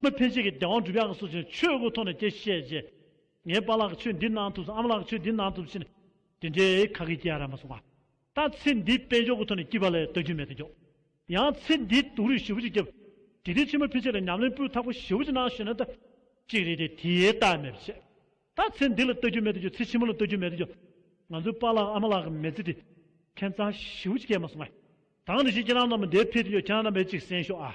མི་ཕལ་ཆེར་གྱི་བདེན་དབང་བསྒྲུབ་ཡག་གི་སོ་ཅན་ཆོས་སྐུ་མཐོང་ནས་དེ་ཤེས་རྗེས། ངའི་དཔའ་ལགས་ཁྱོད་འདི་གནང་ཐུབ་སམ་ཨ་མ་ལགས་ཁྱོད་འདི་གནང་ཐུབ་ཕྱིན། དེ་འདྲའི་ཁ་གི་སྐྱེ་ཡ་ར་མ་སོང་བ། ད་ཚེ་འདིའི་དཔལ་འབྱོར་སྐུ་མཐོང་ནས་སྐྱིད་པ་ལས་ལྟ་རྒྱུ་མེད་དུ་འགྱོགས། ཡང་ཚེ་འདིའི་དུག་རུས་བཞི་བོ་ཅིག་སྐྱབས། དེ་དུས་ཕྱི་མ་ཕལ་ཆེར་ལ་ཉམས་ལེན་སྤུས་དག་པོ་བཞི་བོ་ཅིག་གནང་ཞུས་ན་ད། ཅིག་རེད་དེ་དེའི་རྟགས་མེད་པ་བྱེད། ད་ཚེ་འདི་ལ་ལྟ་རྒྱུ་མེད་དུ་འགྱོགས་ཚེ་ཕྱི་མ་ལ་ལྟ་རྒྱུ་མེད་དུ་འགྱོགས། ང་ཚོའི་དཔའ་ལགས་ཨ་མ་ལགས་གི་མེ་ཚེ་དེ། ཁྱད་མཚར་བཞི་བོ་ཅིག་སྐྱེ་མ་སོང་བ། དང་དེ་བཞིན་ཁྱེད་རང་རྣམས་པ་འདས་འཕེལ་དུ་འགྱོགས་ཁྱེད་རང་རྣམས་པས་ཅིག་གསན་ཤོག་ཨ།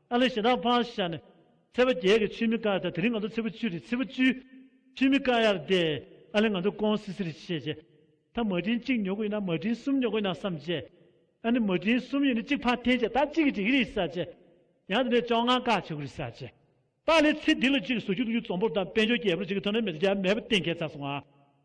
ཨ་ལེ་ཞེ་སྡང་ཕངས་ཤར་ནས། ཚེ་བ་རྒྱལ་གྱི་ཆུས་མི་དཀའ་ད་དེ་རིང་ང་ཚོ་ཚེ་བུ་བཅུ་རེད་ཚེ་བུ་བཅུ། ཆུས་མི་དཀའ་ཡར་བསྡད། ཨ་ལེ་ང་ཚོ་ཀོང་སི་སི་རེད་བྱས་རྗེས། ད་མ་བྲིན་གཅིག་ཉོ་གི་ཡིན་ན་མ་བྲིན་གསུམ་ཉོ་གི་ཡིན་ན་བསམ་རྗེས། ཨ་ནི་མ་བྲིན་གསུམ་ཡོད་ནི་གཅིག་ཕར་འཐེན་རྗེས་ད་གཅིག་གིས་འགྲིག་གི་རེད་བསམ་རྗེས། ཡང་དེ་ནས་བཅོ་ལྔ་ཀ་བྱེད་གི་རེད་བསམ་རྗེས། ད་ཨ་ལེ་ཚེ་འདི་ལོ་གཅིག་གིས་ཟུར་ཆུ་ལྟུག་རྒྱུ་རྫོང་པོར་དང་དཔལ་འབྱོར་རྒྱལ་པོར་གཅིག་གིས་ཐོན་ནས་མི་ཚེ་རྒྱ་མེད་པར་གཏན་འཁེལ་ཚར་སོང་ང།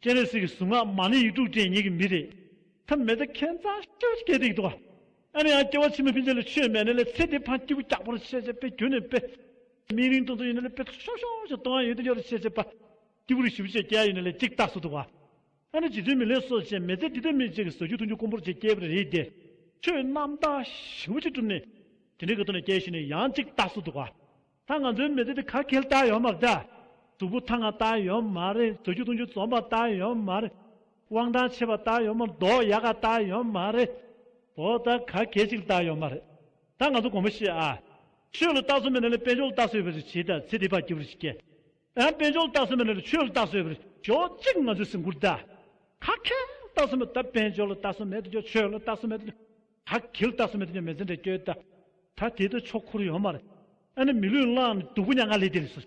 སྤྱན་རས་གཟིགས་ཀྱི་གཟུངས་སྔགས་མ་ལས་ཡིག་དྲུག་ཅན་ཉིད་ཀྱི་མི་རེ། ཐ་མལ་ཏུ་ཁེན་ཙང་ཤཱུ་ཀྱ་ཏིག་ཏུ། ཨ་ནི་ཡང་སྐྱེ་བ་ཕྱི་མ་ཕན་ཆད་ལས་ཆོས་མེད་ནི་ལས་ཚེ་འདི་འཕང་སྐྱེས་བུ་སྐྱག་པོར་ཤེས་བྱ་པས་གྱུར་ནས་དཔེ། མིག་རིང་སྟོང་ཚོ་ཡིན་ནི་ལས་དཔེ་ཐོག་ཤོག་ཤོག་ཅིག་སྟོང་ཡང་ཡོད་དུ་ཡོད་རེ་ཤེས་བྱ་པ། སྐྱེས་བུ་རིགས་བཞི་བོ་ཆེ་སྐྱེ་ཡ་ཡོད་ནི་ལས་གཅིག་རྟགས་སུ་འདུག་ག། ཨ་ནི་ཇི་དོན་མི་ལེན་སོ་ཅན་མེད་ཚེ་འདི་དོན་མེད་ཅིག་གིས་ཟོ་རྒྱུ་འཐུང་རྒྱུ་དཀོན་པོར་ཅིག་སྐྱེས་པ་རེ་སྟེ། ཆོས་རྣམ་དག་བཞི་བོ་ཅིག་གྲུབ་ནས། དེ་འདྲའི་གི་དོན་ལ་སྐྱེ་ཤི་ནི་ཡང་གཅིག་རྟགས་སུ་འདུག་ག། ད་ང་ཚོའི་མི་ཚེ་འདི་ག་གེལ་བཏགས་ཡོད་མ་རེད། གཟུགས་པོ་ཐ་ང་བཏགས་ཡོད་མ་རེད་བཟོ་རྒྱུ་གཏོང་རྒྱུ་རྩོམ་པ་བཏགས་ཡོད་མ་རེད། དབང་ཐང་ཆེ་བ་བཏགས་ཡོད་མ་རེད་མདོག་ཡག་ག་བཏགས་ཡོད་མ་རེད། འོ་ད་ག་གེལ་ཅིག་བཏགས་ཡོད་མ་རེད། ད་ང་ཚོ་དགོངས་པ་བཞི་ཨ། ཆོས་ལ་བཏགས་སྲོལ་མེད་ན་ལས་དཔལ་འབྱོར་ལ་བཏགས་སྲོལ་ཡོད་པ་རེད་ཇི་ལྟར་ཚེ་འདི་བར་སྐྱིད་པོ་རེ་ཞིག་སྐྱེལ། ཨ། དཔལ་འབྱོར་ལ་བཏགས་སྲོལ་མེད་ན་ལས་ཆོས་ལ་བཏགས་སྲོལ་ཡོད་པ་རེད། ཞོག་གཅིག་ང་ཚོའི་སེམས་ཁུར་བལྟ། ག་གེལ་བཏགས་སྲོལ་མེད་ད་དཔལ་འབྱོར་ལ་བཏགས་སྲོལ་མེད་ད་ཆོས་ལ་བཏགས་སྲོལ་མེད། ད་གིལ་བཏགས་སུ་མེད་དུ་ཉོན་མེད་འཛིན་འདྲེ་སྐྱོད། ད་དེ་དུ་ཆོག་ཁུར་ཡོང་མར། ཨ་ནི་མི་ལུས་བླངས་ནི་དུག་པོ་ཉག་ང་ལས་དེ་ལས་སོ།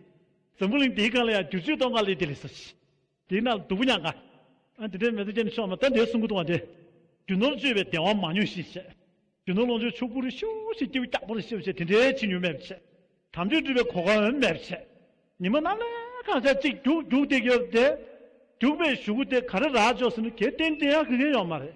འཛམ་བུ་གླིང་དེའི་སྒང་ལ་ཡང་བསྒྱུར་བཅོས་གཏོང་ག་ལས་དེ་ལས་སོ། དེས་ན་དུག་པོ་ཉག་ང། ཨ་དེ་འདྲའི་མེ་ཏོག་སྐྱེ་ནི་ཆོག་མ་ད་འདའི་སྲུང་འཁོར་གཏོང་བ་འདི། རྒྱུ་ནོར་བཅོས་པའི་བདེ་བ་མ་མྱོང་ཞིག་བྱེད། རྒྱུ་ནོར་ལོངས་སྤྱོད་ཕྱུག་པོ་རུ་ཤུ་ཞེས་སྐྱེ་བོ་སྐྱག་པོ་རུ་ཤི་བ་བྱེད་དེ་འདྲའི་ཕྱི་ཉུལ་མེད་པར་བྱེད། དམ་ཆོས་སྒྲུབ་པའི་གོ་སྐབས་མེད་པར་བྱེད། ཉི་མ་ནམ་ལས་གང་ཆགས་གཅིག་རྒྱུག་རྒྱུག་སྟེ་ཡོད་དེ། རྒྱུག་པའི་གཞུག་གུ་དེ་ག་རེ་རག་འཇོག་ཟིན་ནོ་གལ་ཏེ་འདི་ཡང་དགེ་རྒན་ཡོང་མ་རེད།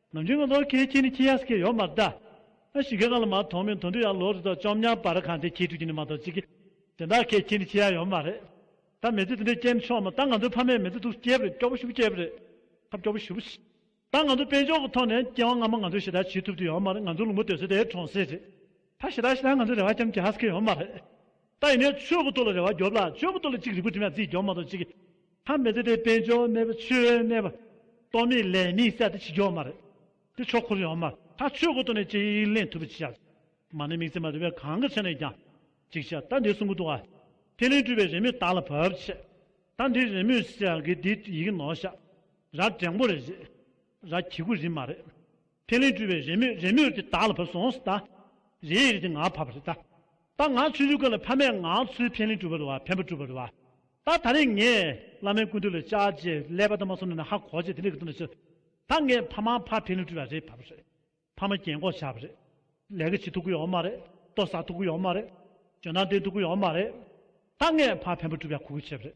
ནམ་རྒྱུན་གྱི་ལོ་ཁའི་ཁྱི་ནི་ཁྱི་ཡག་སྐད་ཡོག་མ་གདའ། ཨ་ཞི་གེ་གང་ལ་མ་མཐོང་མིན་དོན་དུ་ཡང་ལོ་རེ་དོ་ཅོམ་ཉམས་པར་གང་དེ་ཁྱི་ཕྲུག་ཁྱི་ནི་མ་གཏོགས་ཅི་གི། དེ་འདྲ་ཁའི་ཁྱི་ནི་ཁྱི་ཡག་ཡོག་མ་རེད། ད་མེ་ཙི་དེ་འདྲས་སྐྱེན་ཆོག་མོད་ད་ང་ཚོའི་ཕ་མས་མེ་ཙི་དུག་སྐྱེས་པ་རེད་སྐྱོ་པོ་ཞུ་པོ་སྐྱེས་པ་རེད། ཁ་སྐྱོ་པོ་ཞུ་པོ། ད་ང་ཚོ་དཔེ་འཇོག་གི་ཐོག་ནས་སྐྱེ་བ་སྔ་མ་ང་ཚོས་ཞེ་དྲག་བྱེད་ཐུབ་ཀྱི་ཡོག་མ་རེད་ང་ཚོའི་ལུང་པ་དོད་སེ་དེའི་གྲོང་གསེབ་རེད། ད་ཞེ་དྲག་ཞེ་དྲག་ང་ཚོའི་རེ་བ་ཀྱམ་ཀྱི་ཧ་ས་ཁེ་ཡོག་མ་རེད། ད་ཡིན་ནས་ཆོས་ཀུ་ཏོ་ལ་རེ་བ་རྒྱོབ་ལ་ཆོས་ཀུ་ཏོ་ལ་གཅིག་རིག་པུ་དྲི་མ་རྫིས་རྒྱོབ་མ་གཏོགས་ཅིག། ཐ་མི་དད་པའི་དཔལ་འབྱོར་མེད་པ་ཆོས་མེད་པ། སྟོང་མེད་ལས་མེད་བསལ་ཏེ་ཕྱི་རྒྱོབ་མ་རེད། དེ་ཆོག་ཁུར་ཡོང་མ་ཐག་ཆོས་ཀུ་ཏོ་ནས་ཅི་ཡིག་ལེན་ཐུབ་པ་ཅིག་བྱ། མ་ནི་དམིགས་བརྩེ་མ་དེ་བས་གང་གི་ཆ་ནས་ཀྱང། ཅིག་བྱ་ད་འདི་གསུང་ཀུ་ཏོ་ཨ། ཐེ་ལིང་སྤྲུལ་པའི་རེ་མོས་བདག་ལ་བབ་ཆེ། ད་འདི་རེ་མོས་བསལ་གི་འདི་ཡི་གི་ནོར་བཤགས། ར་བྲེང་པོ་རེ་རེད། ར་གྱི་གུ་རིམ་མ་རེད། ཕན་ལས་སྤྲུལ་བའི་རེ་མོས་རེ་མོས་དེ་བདག་ལ་བབས་སོང་ཟད། རེ་ཡི་རེ་དེ་ང་ཕབ་པ་རེད་ད། ད་ང་ཚོའི་ཡུལ་ཀ་ལ་ཕ་མས་ང་ཚོའི་ཕན་ལས་སྤྲུལ་བ་རེད་བ་ཕན་པ་སྤྲུལ་བ་རེད་བ། ད་ད་རེས་ངས་བླ་མའི་སྐུ་དུས་ལ་བཅར་རྗེས་ཀླད་པ་ད་མ་སོང་ནས་ན་ཧ་གོ་རྗེས་དེ་འདྲ་གི་དུ་ན་ཆུ། ད་ངས་ཕ་མ་ཕ་ཕན་ལས་སྤྲུལ་བ་རེད་བབས་རེད། ཕ་མ་རྒྱན་གོག་བཞག་པ་རེད། ལས་ཀ་བྱེད་ཐུབ་ཀི་ཡོད་མ་རེད། ལྟོ་བཟའ་ཐུབ་ཀི་ཡོད་མ་རེད། འཇོན་ཐང་ལྡན་ཐུབ་ཀི་ཡོད་མ་རེད། ད་ངས་ཕ་ཕན་པ་སྤྲུལ་བ་གོ་གི་བྱས་པ་རེད།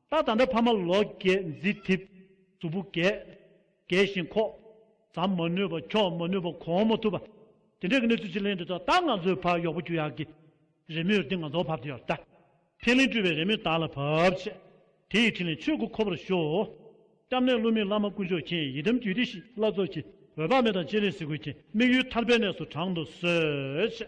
རྟ་དང་འདྲ་ཕ་མ་ལོ་བརྒྱད་མཛེས་འཐིབ། གཟུགས་པོ་རྒས། རྒས་ཤིང་འཁོགས། ཟམ་མ་ནུས་པ་འཁྱོག་མ་ནུས་པ་གོང་མ་ཐུབ་པ། དེ་འདྲའི་གནས་ཚུལ་ཅིག་གླེང་འདོད་ཐོག་ད་ང་ཚོའི་ཕ་ཡོག་པོ་རྒྱུ་ཡག་གི། རེ་མོས་འདི་ང་ཚོར་བབ་འདི་ཡོད་ད། ཕན་གླིང་སྤྲུལ་བའི་རེ་མོས་བདག་ལ་བབ། ཆེ་དེ་ཡི་ཕྲིན་ལས་ཆོས་སྐུ་འཁོར་བར་ཤོག། སྐྱབས་གནས་བསླུ་མེད་བླ་མ་དཀོན་མཆོག་མཁྱེན་ཡིད་དམ་རྒྱུད་སྡེ་བཞིའི་བླ་རྫོགས་ཀྱི། འོད་དཔག་མེད་དང་སྤྱན་རས་གཟིགས་ཀུན་མཁྱེན་དམིགས་ཡུལ་མཐར་ཕན་གནས་སུ་དྲངས་དུ་གསོལ། ཆེ།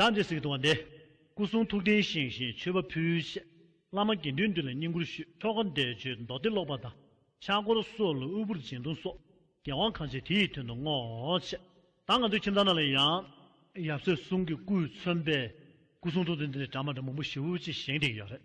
བདག་འདྲའི་གཟིགས་དང་ལྡན། སྐུ་གསུང་ཐུགས་རྟེན་བཞེངས་ཤིང་མཆོད་པ་ཕུལ། བཤད་བླ་མ་དགེ་འདུན་འདུས་ལ་བསྙེན་བཀུར་ཞུས། ཆོ་ག་བཟླས་བརྗོད་མདོ་སྡེ་ཀློག་པ་དང། ཕྱག་བསྐོར་གསོལ་ལོ་དབུལ་པོར་སྦྱིན་གཏོང་སོགས། རྒྱལ་དབང་གང་བྱེད་དེ་ཡི་དོན་དུ་བསྔོ། བཤད་བདག་ང་ཚོའི་ཁྱིམ་བདག་རྣམས་ལ་ཡང། ཡབ་སྲས་གསུང་གི་སྐུས་མཚོན་པའི། སྐུ་གསུང་ཐུགས་རྟེན་འདི་ནི་དྲ་མ་དྲ་མུན་པོ་བཞི་བོ་ཅི་བཞེངས་བྲིས་ཀྱི་ཡོད་རེད།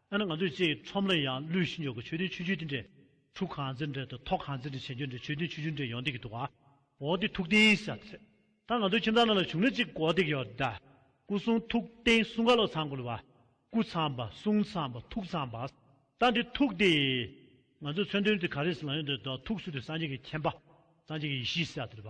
ཡང་ན་ང་ཚོས་ཅེས་ཁྲོམ་ར་ཡང་བསླུས་ཤིང་ཡོད་ཀྱི་ཆོས་དོན་ཆུ་ཆུ་དེ་འདྲས། གྲུ་གང་ཚེ་འདྲས་དང་ཐོག་གང་ཚེ་འདྲས་བྱེད་འཇོན་འདྲས་ཆོས་དོན་ཆུ་ཆུ་འདྲས་ཡོང་སྡད་ཀྱི་འདུག་ཨ། འོ་དེ་ཐུགས་བརྟན་ཞེས་བྱ་སྟེ། ད་ང་ཚོའི་ཁྱིམ་ཚང་ནང་ལ་བྱུང་ན་ཅིག་གོ་སྡད་ཀྱི་ཡོད་ད། སྐུ་གསུང་ཐུགས་བརྟན་གསུང་ག་ལོ་ཚང་གོ་ལོ་བ། སྐུ་ཚང་བ་གསུང་ཚང་བ་ཐུགས་ཚང་བ། ད་འདི་ཐུགས་བརྟན། ང་ཚོའི་མཚོན་དོན་དེ་ག་རེ་ཟེར་ན་ཡོད་འདོད་ད་ཐུགས་གསུང་དེ་སངས་རྒྱས་ཀྱི་མཁྱེན་པ། སངས་རྒྱས་ཀྱི་ཡེ་ཤེས་ཞེས་བྱ་སྟེ་བ།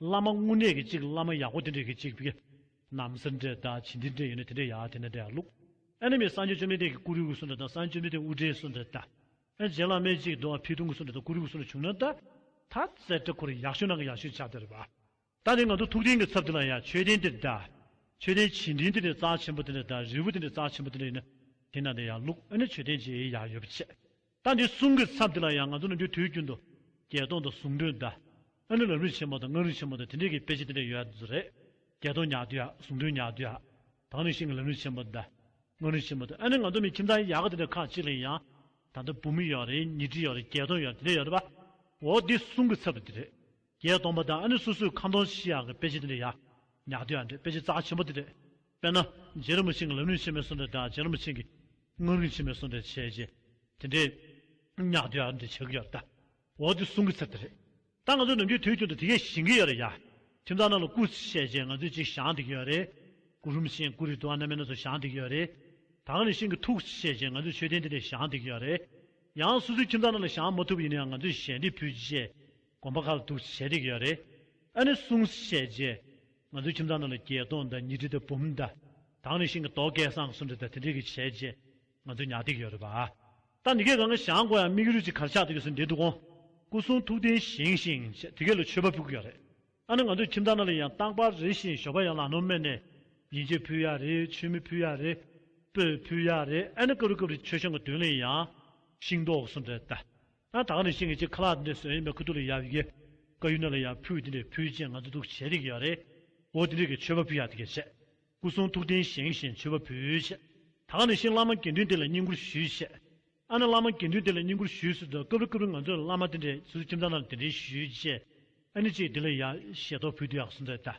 བླ་མ་དངོས་གནས་ཀྱི་གཅིག་བླ་མ་ཡག་པོ་དེ་འདྲས་ཀྱི་གཅིག་བི། ནམ་སེར་འདྲས་དང་བྱིན་འདི་འདྲས་ཡོད་ན་དེ་འདྲས་ཡག་དེ་འདྲས་ཡག་ལུགས། ཨ་ནི་མི་སངས་རྒྱས་བཅོ་མི་ཏེ་ཀྱི་ཀུ་རི་ཀུ་སུ་འདྲ་དང་སངས་རྒྱས་མི་ཏེ་ཨུ་ཏྲའི་སུ་འདྲ་ལྟ། ཨ་རྗེ་བླ་མའི་གཅིག་རྡོ་ཕི་ཐུང་ཀུ་སུ་འདྲ་དང་ཀུ་རི་ཀུ་སུ་འདྲ་བྱུང་ན་ལྟ། ད་བཙལ་བྲ་ཁོར་ཡག་ཤོས་ནང་གི་ཡག་ཤོས་ཆགས་དེར་བ། ད་ནི་ང་ཚོ་ཐུགས་རྟེན་གྱི་ཚབ་དེ་ལ་ཡ་མཆོད་རྟེན་དེ་འདྲ། མཆོད་རྟེན་བྱིན་འབྲིང་དེ་འདྲས་རྩ་ཆེན་པོ་དེ་འདྲ་དང་རིལ་བུ་དེ་འདྲས་རྩ་ཆེན་པོ་དེ་འདྲས་ཡིན་ན་དེ་ནང་དེ་ཡག་ལུགས་ཨ་ནི་མཆོད་རྟེན་བྱེད་ཡག་ཡོད་པ་ཆེ། ཟླ་འདིའི་གསུམ་གྱི་མཚམས་དེ་ལ་ཡང་ང་ཚོ་ནི་འདིའི་དུས་རྒྱུན་དུ། བརྒྱད་སྟོང་དང་གསུམ་བདུན་ཟླ། ཨ་ནི་ལམ་རིམ་ཆེན་མོ་དང་སྔགས་རིམ་ཆེན་མོ་དང་དེ་འདྲའི་གི་དཔེ་ཆ་དེ་འདྲ་ཡོད་རེད། བརྒྱད་སྟོང་ཉག་དུས་ཨ། གསུམ་བདུན་ཉག་དུས་ཨ། དང་ནི་ཤིང་གི་ལམ་རིམ་ཆེན་མོ་ཟླ། སྔགས་རིམ་ཆེན་མོ་དང་ཨ་ནི་ང་ཚོ་ནི་ཁྱིམ་ཚང་ཡག་གི་དེ་འདྲ་ཁག་གཅིག་ལ་ཡང། ད་ལྟ་བུ་མོ་ཡོད་རེད་ཉིས་ཁྲི་ཡོད་རེད་བརྒྱད་སྟོང་ཡོད་རེད་དེ་འདྲ་ཡོད་རེད་པ། འོ་འདི་གསུམ་གི་ཚབ་ཏུ་དེ་རེད། བརྒྱད་སྟོང་པ་དང་ཨ་ནི་སོ་སོའི་ཁང་སྟོང་ཕྱི་ཡང་གི་དཔེ་ཆ་དེ་འདྲའི་ཡག། ཉག་ཏུ་ཡང་འདྲའི་དཔེ་ཆ་རྩ་ཆེན་པོ་དེ་རེད། དཔེར་ན། རྗེ་རིན་པོ་ཆེ་གི་ལམ་རིན་ཆེན་མོའི་སོ་འདྲ་དང་རྗེ་རིན་པོ་ཆེ་གི། སྔགས་རིན་ཆེན་མོའི་སོ་འདྲའི་བྱས་རྗེས་དེ་འདྲའི། ཉག་ཏུ་ཡང་འདྲའི་བྱ་རྒྱུ་ཡག་རེད་ད། འོ་དེ་གསུང་གི་ཚར་དེ་རེད། ད་ང་ཚོ་ནམ་རྒྱུན་དུས་རྒྱུན་དུ་དེ་གས་ཞིང་གི་ཡོད་རེད་ཡ། ཁྱིམ་ཚང་རྣམས་ལ་སྐུ་ཚེ་བཤད་རྗེས་ང་ཚོས་ཅིག་བཞག་འདི་གི་ཡོད་རེད། སྐུ་རུམ་ཆེན་སྐུ་རི་དུ་བ་རྣམ་མེད་ན་ཚོ་བཞག་འདི་གི་ཡོད་རེད། ད་ག་ནས་ཤིང་གི་ཐུགས་བཤད་རྗེས་ང་ཚོས་མཆོད་རྟེན་དེ་འདྲས་བཞག་འདི་གི་ཡོད་རེད། ཡང་སོ་སོའི་ཁྱིམ་ཚང་རྣམས་ལ་བཞག་མ་ཐུབ་པ་ཡིན་ན་ཡང་ང་ཚོས་ཞལ་འདེབས་ཕུལ་རྗེས། དགོན་པ་ཁག་ལ་ཐུགས་རྗེ་ཆེ་རིགས་ཡོད་རེད། ཨ་ནེ་གསུང་བཤད་རྗེས། ང་ཚོའི་ཁྱིམ་ཚང་ནང་ལ་བརྒྱད་སྟོང་དང་ཉིས་ཁྲི་དང་འབུམ་བརྡ། དྭངས་ནས་ཤིང་གི་རྡོ་སྐས་སྲང་གསུམ་བྲི་བརྡ་དེ་འདྲས་ཀྱི་བྱས་རྗེས་ང་ཚོའི་ཉག་ཐིག་ཡོད་རེད་པ། ད་ནི་གས་གང་གི་ཞང་གོ་ཡང་མིག་རུས་ཀྱི་གར་ཆག་དེ་གས་སུ་འདྲེས་འདུག་གོང་སྐུ་གསུང་ཐུགས་རྟེན་བཞེངས་ཤིང་བྱས་དེ་གས་ལ་མཆོད་པ་ཕུལ་གི་ཡོད་རེད། ཨ་ནེ་ང་ཚོའི་ཁྱིམ་ཚང་ནང་ལ་ཡང་རྟག་པར་རེ་བཞིན་ཞོགས་པ་ཡང་ལག་ནོར་མེད་ནས། ཡིན་ཆད་ཕུལ་ཡག་རེད་ཆུ་མིག་ཕུལ་ཡག་རེད། སྤོས་ཕུལ་ཡག་རེད་ཨ་ནེ་སྐབས་རེ་སྐབས་རེ་ཆོས་ཞང་གི་དུས་ལ་ཡང། ཤིང་རྡོག་གསུམ་བྲི་བརྡ། ཡང་དག་ནས་ཤིང་གི་ཆེ་ཁ་ལག་འདི་འདྲའི་བཟོས་ཡིན་པས་ཁུ་ཐུག་ལ་ཡག་གི། ཀ་ཡུ་ན་ལ་ཡང་ཕུལ་འདི་འདྲའི་ཕུལ་ཅན་ང་ཚོ་འདུག་བྱེད་རིགས་ཡག་རེད། འོ་དེ་འདྲའི་གི་མཆོད་པ་ཕུལ་ཡག་དེ་གས་བྱས། སྐུ་གསུང་ཐུགས་རྟེན་བཞེངས་བཞེས་མཆོད་པ་ཕུལ་བྱས། དག་ནས་ཤིང་བླ་མ་དགེ་འདུན་དེ་ལ་བསྙེན་བཀུར་ཞུས་བྱས། ཨ་ན་བླ་མ་དགེ་འདུན་དེ་ལ་བསྙེན་བཀུར་ཞུས་སུ་དོ་སྐབས་རེ་སྐབས་རེ་ང་ཚོ་ལ་བླ་མ་དེ་འདྲའི་སུ་ཁྱིམ་ཚང་ན་ལ་དེ་འདྲའི་ཞུས་བྱས། ཨ་ནི་ཅིག་དེ་ལ་ཡག་ཞེས་དོ་ཕུལ་དུ་ཡག་སུ་མཛད་ད།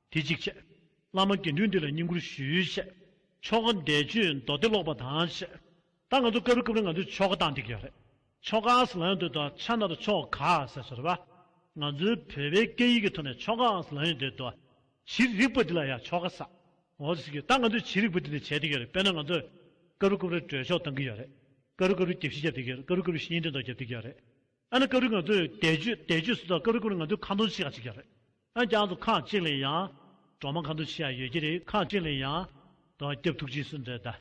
དེ་གཅིག་བྱས། བླ་མ་དགེ་འདུན་འདི་ལ་བསྙེན་བཀུར་ཞུས་བྱས། ཆོ་ག་འདས་ཆུ་མདོ་སྡེ་ལོག་པ་དང་བྱས། ད་ང་ཚོ་ཀ་རུ་སྐབས་རེ་ང་ཚོས་ཆོ་ག་བཏང་འདི་གི་ཡག་རེད། ཆོ་ག་ཨང་ལ་ཡོང་འདོད་དོ་ཆ་ན་རུ་ཆོ་ག་ཟེར་སོ་རེད་བ། ང་ཚོའི་བོད་པའི་སྐད་ཡིག་གི་ཐོག་ནས་ཆོ་ག་ཨང་ལ་ཡོང་འདོད་དོ། བྱི་རིག་པ་འདི་ལ་ཡང་ཆོ་ག་ཟ་འོ་ཟེར་གི་ད་ང་ཚོས་བྱི་རིག་པ་འདི་ནས་བྱས་འདི་གི་ཡག་རེད་དཔེར་ན་ང་ཚོས་ཀ་རུ་སྐབས་རེ་གྲོས་ཆོག་བཏང་གི་ཡག་རེད། ཀ་རུ་ཀ་རུ་རྒྱབ་བཞི་བརྒྱབ་འདི་གི་ཡག་རེད་ཀ་རུ་ཀ་རུ་བཤེས་གཉེན་འདྲེ་མདོག་བརྒྱབ་འདི་གི་ཡག་རེད། ཨ་ནི་སྐབས་རེ་ང་ཚོས་དལ་བཅོས་དལ་བཅོས་ཟེར་ཐག་སྐབས་རེ་སྐབས་རེ་ང་ཚོས་ཁ་འཐུང་བྱེད་ཀྱང་བྱེད་ཀྱི་རེད། འོན་ཀྱང་ཚོ་ཁག་གཅིག་ལས་ཡང། གྲོག་མ་ཁ་འཐུང་བྱེད་ཡ་ཡོད་ཀྱི་རེད་ཁག་གཅིག་ལས་ཡང། དོ་སྐྱབས་ཐུགས་རྗེའི་སུ་འདྲེ་ད།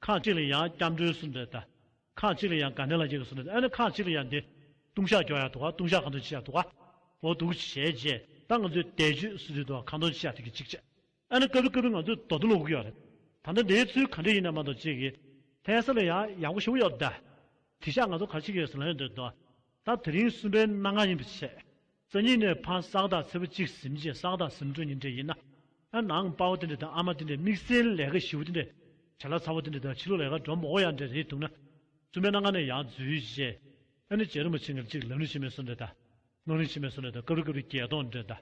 ཁག་གཅིག་ལས་ཡང་སྐྱབས་འགྲོའི་སུ་འདྲེ་ད། ཁག་གཅིག་ལས་ཡང་དགའ་ལྡན་ལ་རྒྱལ་གྱི་སུ་འདྲེ་ད་ཨ་ནི་ཁག་གཅིག་ལས་ཡང་འདི། ལྟུང་བཤགས་རྒྱོགས་ཡ་ཐུག་ག་ལྟུང་བཤགས་ཁ་འཐུང་བྱེད་ཡ་ཐུག་ག། འོ་ཐུག་བྱས་རྗེས་ད་ང་ཚོས་དལ་བཅོས་སུ་འདྲེ་ད་ཁ་འཐུང་བྱེད་ཡ་ཐུག་གི་ཅིག་བྱས། ཨ་ནི་སྐབས་རེ་སྐབས་རེ་ང་ཚོས་རྡོག་རྡོ་ལ་འུག་ཡོད་རེད། ད་ལྟ་འདིའི་ཚུལ་ག་འདྲས་ཡིན་ནམ་མ་གཏོགས་ཅི་གི། ཕལ་ས་ལ་ཡང་ཡག་པོ་ཞིག་ཡོད་དཱ། དེ་ཤག་ང་ཚོ་གར་ཕྱིན་ཡོད་ཟེར་ལངས་ཡོད་འདོད་དོ། ད་དེ་རིང་གསུམ་པའི་གནའ་སྔ་ཡིན་པའི་ཆེད། རྩ་གཉིས་ནས་ཕ་གསག་དང་ཚེ་བུ་གཅིག་གཟིམ་གཅིག་གསག་དང་གཟིམ་དྲུག་གཉིས་འདྲེས་ཡིན་ན། ཨ་ནང་དཔའ་བོ་དེ་འདྲས་དང་ཨ་མ་དེ་འདྲས་དམིགས་བསལ་ལས་ཀ་ཞི་བོ་དེ་འདྲས། བྱ་ལ་ཚ་བོ་དེ་འདྲས་དང་ཕྱི་ལོག་ལས་ཀ་འགྲོ་མགོ་ཡང་འདྲས་རེད་འདུག་ན། གསུམ་པའི་གནའ་སྔ་ནས་ཡང་རྫུས་རྗེས། ཨ་ནི་བྱས་རུང་མ་བྱས་ངེར་གཅིག་ལམ་རིང་ཕྱིན་མེད་སོང་འདྲས་དཱ། སྣང་རིང་ཕྱིན་མེད་སོང་འདྲས་དང་སྐབས་རེ་སྐབས་རེ་བརྒྱད་སྟོང་འདྲས་དཱ།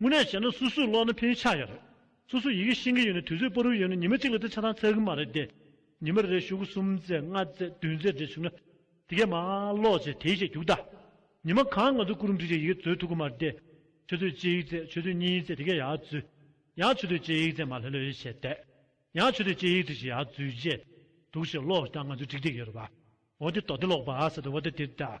དངོས་གནས་བྱས་ན་སུ་སུ་ཀློག་ན་ཕན་ཡོན་ཆགས་ཡོད་རེད། སུ་སུ་ཡི་གེ་ཤེས་ཀྱི་ཡོད་ནས་དུས་ཚོད་སྤོ་རུ་ཡོད་ན་ཉི་མ་གཅིག་ལ་དེ་ཆ་ཚང་ཚར་གི་མ་རེད་དེ། ཉི་མ་རེར་ཞུ་གུ་གསུམ་བཙལ་ལྔ་བཙལ་བདུན་བཙལ་བྲེལ་བྱུང་ན། དེ་གས་མ་ཀློག་ཅེས་དེའི་ཆེད་རྒྱུགས་ད། ཉི་མ་གང་ང་ཚོ་སྐུ་རུ་འབྲི་བྱའི་ཡི་གེ་བཙོལ་ཐུབ་གི་མ་རེད་དེ། ཆུ་ཚོད་གཅིག་བཙལ་ཆུ་ཚོད་གཉིས་བཙལ་དེ་གས་ཡག་བཙུད། ཡང་ཆུ་ཚོད་གཅིག་བཙལ་མ་ལྷོད་ལྷོད་བྱས་བསྡད། ཡང་ཆུ་ཚོད་གཅིག་བྲི་བྱས་ཡག་བཙུད་རྗེས། འདུག་ཞེས་ཀློག་ད་ང་ཚོ་འགྲིག་བསྡད་ཡོད་རེད་བ། འོ་དེ་དོགས་ཏེ་ཀློག་པ་ཟེར་ཏེ་འོ་ད་དེ་ལྟ།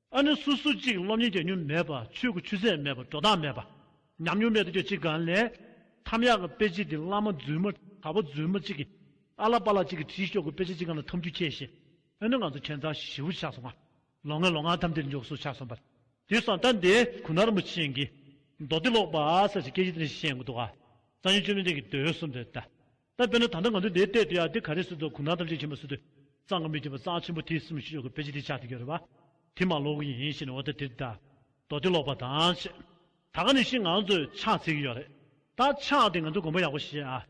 ཨ་ནི་སུ་སུ་གཅིག་སློབ་གཉེར་བྱ་མྱོང་མེད་པ་ཆོས་ཀྱི་ཆུ་ཚད་མེད་པ་འགྲོ་སྟངས་མེད་པ། ཉམས་མྱོང་མེད་དུ་ཁྱོད་གཅིག་གང་ལས། ཐམ་ཡག་གི་དཔེ་ཆ་འདི་བླ་མ་རྫུན་མ་དར་བོ་རྫུན་མ་གཅིག་གིས་ཨ་ལ་པ་ལ་གཅིག་གིས་བྲིས་ཤོག་གི་དཔེ་ཆ་གཅིག་གང་ལ་འཐམ་རྒྱུ་ཁྱེད་ཤེས། ཨ་ནི་ང་ཚོ་ཁྱེད་མཚར་བཞི་བོ་ཆགས་སོང་ང། ལོ་ལྔའི་ལོ་ངག་ཐམ་དེར་འཇོག་སྲོལ་ཆགས་སོང་པ། དེ་སང་ད་འདི་གུ་ནར་མོ་ཆེན་གྱིས། མདོ་སྡེ་ཀློག་པ་ཟེར་བཞིན་སྐད་ཆ་དེ་འདྲ་ཞིག་བཤད་འགོ་འདུག་ཨ། གཙང་ཆེན་བཅོས་མའི་སྟེང་གི་འདོད་ཡོན་གསུམ་དེར་ད། ད་དཔེར་ན་ད་ལྟ་ང་ཚོས་དེའི་སྟེང་དུ་ཡང་དེ་ག་རེ་བཟོས་འདུག་གུང་ཐང་ཐམས་ཅད་མཁྱེན་པ་བཟོས་འདུག་གཙང་གི་མི་དེ་བ་གཙང་ཆེན་པོ་དེས་སུ་མི་ཤེས་ཤོག་གི་དཔེ་ཅི་དེ་ཆགས་ཐུག་གི་རེད་བ། དེ་མ་ལོག་གི་ཡིན་ཞེས་ནས་འོ་ད་དེ་དེ་ད། མདོ་དེ་ལོག་པ་དང་ཞེས། ད་ག་ནས་ཤིག་ང་ཚོས་ཕྱག་འཚལ་གི་ཡོད་རེད། ད་ཕྱག་དེ་ང་ཚོས་དགོངས་པ་ཡག་པོ་བཞེས་ཨ།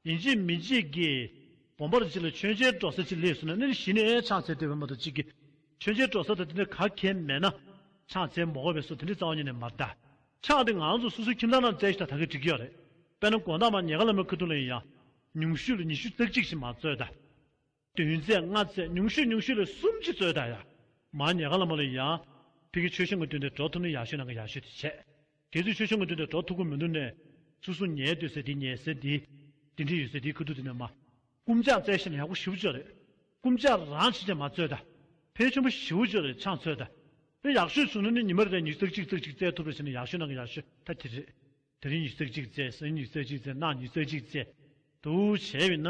ཡིན་ཅིག་མིན་ཅིག་གི། དགོངས་པར་ཅིག་ལ་མཆོད་མཇལ་སྤྲོ་ས་ཅིག་ལས་བཟོས་ན་ནི་གཞི་ནས་ཕྱག་འཚལ་དེ་བས་མ་གཏོགས་ཅིག་གི། མཆོད་མཇལ་སྤྲོ་ས་དང་དེ་འདྲ་ག་གལ་མེད་ན། ཕྱག་འཚལ་མོག་བས་སོ་དེ་འདྲའི་རྩ་བ་ཉིད་ནས་མ་གདའ། ཕྱག་དེ་ང་ཚོ་སོ་སོའི་ཁྱིམ་ཚང་རྣམས་བཙལ་ཞིག་ད་ད་གེ་འགྲིག་གི་ཡོད་རེད། དཔེར་ན་དགོན་བདག་མ་ཉེ་དགའ་ལ་མོ་ཁི་ཐུང་ལ་ཡིན་ཡང། ཉུང་ཤོས་ལ་ཉི་ཤུ་རྩེག་གཅིག་ཞིག་མ་བཙོས་ད། བདུན་རྩེག་ལྔ་རྩེག་ཉུང་ཤོས་ཉུང་ཤོས་ལ་གསུམ་གཅིག་བཙོས་ད་ཡ། མ་ཉེ་དགའ་ལ་མོ་ལ་ཡིན་ཡང། ཕི་གིས་ཆོས་ཞུ་ངོ་བསྟུན་ཏེ་འགྲོ་ཐུབ་ན་ཡག་ཤོས་ན་ག་ཡག་ཤོས་དེ་བྱས། དེ་ཚོས་ཆོས་ཞུ་ངོ་བསྟུན་ཏེ་འགྲོ་ཐུབ་ཀི་མི་འདུག་ནས། སུ་སུ་ཉལ་སྡོད་ཟེར་དེ་ཉལ་ཟེར་དེ། དེ་འདྲི་ཡོད་ཟེར་དེའི་ཁུ་ཐུག་དེ་ནས་མ། རྐུན་ཇག་རྩལ་ཞིབ་ཡག་པོ་ཞིབ་བཅོས་རེད། རྐུན་ཇག་རང་བྱེད་ཅིག་མ་རྩོད་ད། ཕལ་ཆེན་པོ་ཞིབ་བཅོས་རེད་ཆང་རྩོད་ད། དེ་ཡག་ཤོས་བྱུང་ན་ནི་ཉི་མ་རེ་རེར་ཉིས་བརྩེགས་གཅིག་བརྩེགས་གཅིག་བརྩེགས་ཐུབ་པ་བྱས་ན་ཡག་ཤོས་ནང་གི་ཡག་ཤོས་ད་དེ་རེད། དེ་རིང་ཉིས་བརྩེགས་གཅིག་བརྩེགས་སེང་ཉིས་བརྩེགས་གཅིག་བརྩེགས་གནག་ཉིས་བརྩེགས་གཅིག་བརྩེགས་དུ་བྱས་བས་ན།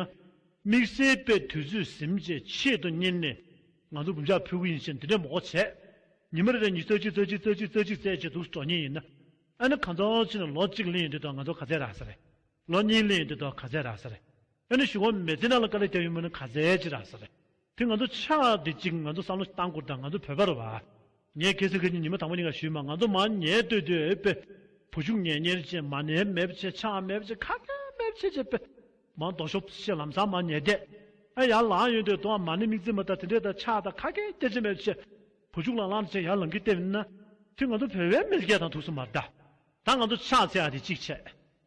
དམིགས་བསལ་པའི་དུས་ཚོད་ཟིན་རྗེས་ཆེད་དུ་གཉེར་ནས་ང་ཚོ་རྐུན་ཇག་ཕུད་གི་ཡིན་ཕྱིན་དེ་འདྲའི་མགོ་བྱས། ཉི་མ་རེ་རེར་ཉིས་བརྩེགས་གཅིག་བརྩེགས་གཅིག་བརྩེགས་གཅིག་བརྩེགས་གཅིག་བརྩེགས་བྱས་འདུག་འགྲོ་ཉེན་ཡིན། ཨ་ནི་གང་ཚོགས་ཕྱིན་ལོ་གཅིག་གླེང་ཡོད་དུས་ད་ང་ཚོ་ག་ཚད་རག་ས་རེད། ལོ་གཉིས་གླེང་ཡོད་དུས་ད་ག་ཚད་རག་ས་རེད། ཨ་ནི་ཞུ་བ་མེད་ཚེ་ནང་ལ་དཀའ་ལས་བཏབ་ཡོད་མོད་ནི་ག་ཚད་ཅི་ར་ས་རེད་དེ་ང་ཚོ་ཆ་དེ་གཅིག་ང་ཚོ་བསམ་བློ་གཏང་དགོས་དང་ང་ཚོ་བོད་པ་རེད་བ། ངས་གལ་སྲིད་ཁྱེད་ཀྱི་ཉི་མ་དང་པོ་གཉིས་ཀ་ཞུས་མ་ང་ཚོ་མ་ཉལ་སྡོད་དུས་ཨེ་པེ། བུ་ཆུང་ངས་གཉེར་བྱེད་མ་ནས་མེད་བྱེད་ཆ་མེད་བྱེད་ཁ་ཁ་མེད་བྱེད་བྱེད་པེ། མ་འདོག་ཤོག་བྱེད་ལམ་སང་མ་ཉལ་སྡད་ཨེ་ཡར་ལངས་ཡོང་དུས་དུ་མ་ནས་མིག་རྩིབ་མ་དང་དེ་འདྲས་དང་ཆ་དང་ཁ་ཁའི་སྐད་ཆ་མེད་བྱེད། བུ་ཆུང་ལ་ལངས་ཚེ་ཡར་ལངས་གི་ལྟེབ་ན། དེ་ང་ཚོ་བོད་བའི་མི་སྐད་དང་ཐུགས་སུ་མ་བརྡ། ད་ང་ཚོ་ཆ་ཚེ་ཨ་དེ་གཅིག་བྱེད།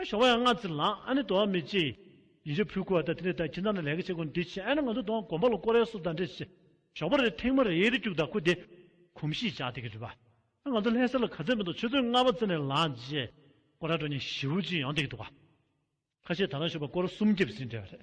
ཨ་ཞོགས་བ་ཡང་ང་ཙི་ལགས་ཨ་ནི་དོ་བ་མི་ཅི། ཡིན་ཞོ་ཕུད་ཁུ་བ་ད་དེ་ནས་ད་ཁྱི་ད་ནི་ལས་ཀ་བྱེད་དགོས་འདི་བྱེད་ཨ་ནི་ང་ཚོ་དོ་བ་དགོན་པ་ལ་ཀོ་རེ་སོ་ད་འདྲེ་བྱེད། ཞོགས་པ་རེ་ཐེངས་མ་རེ་ཡེ་རེ་སྐྱུག་ད་ཁུ་དེ། གོམས་གཤིས་ཅག་དེ་གི་རེད་པ། ཨ་ང་ཚོ་ལྷས་གསེར་ལ་ག་ཚད་མི་འདུག་ཆུ་ཚོད་ལྔ་བ་ཙི་ནས་ལངས་རྗེས། ཀོ་ར་གྲོ་གཉིས་བཞི་བོ་གཅིག་ཡང་དེ་གི་འདུག་ག། ཁ་ཤས་ད་ལ་ཞོགས་པ་ཀོ་ར་གསུམ་རྒྱབ་ཟིན་འདྲེ་བ་རེད།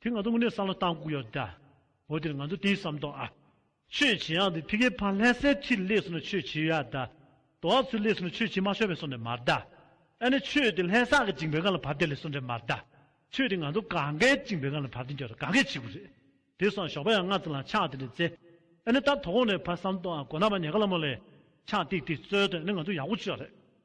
དེ་ང་ཚོ་དངོས་གནས་བསམ་བློ་བཏང་ཁུག་ཡོད་ལ། འོ་དེར་ང་ཚོ་དེའི་བསམ་དོགས་ཨ། ཆོས་བྱེད་ཡང་དེ་ཕི་ཀེ་ཕ་ལྷས་སའི་ཁྲིར་སླེབས་སོང་ན་ཆོས་བྱེད་ཡོད་ཨ་ད། དོ་ཨ་ཚོས་སླེབས་སོང་ན་ཆོས་བྱེད་མ་ཤོར་བས་སོང་འདྲེ་མ་ཨ་ད། ཨ་ནི་ཆོས་དེ་ལྷས་སར་གི་གཅིག་འབེལ་ཁང་ལ་བབས་ཏེ་སླེབས་སོང་འདྲེ་མ་ཨ་ད། ཆོས་དེ་ང་ཚོ་གང་གཱའི་གཅིག་འབེལ་ཁང་ལ་བབས་ཏེ་འགྱོ་ད་གང་གཱའི་ཕྱི་དགུ་རེད། དེ་སང་ཞོགས་པ་ཡང་ང་ཚོ་ལ་ཕྱག་དེ་འདྲེ་བཙལ། ཨ་ནི་ད་དོ་ཁོང་ནས་ཕ་བསམ་དོགས་ཨ་གོ་ན་པ་ཉེ་ག་ལ་མོ་ལས། ཕྱག་ཏིག་ཏིག་བཙོལ་དོན་ཨ་ནི་ང་ཚོ་ཡག་པོ་བྱོས་རེད།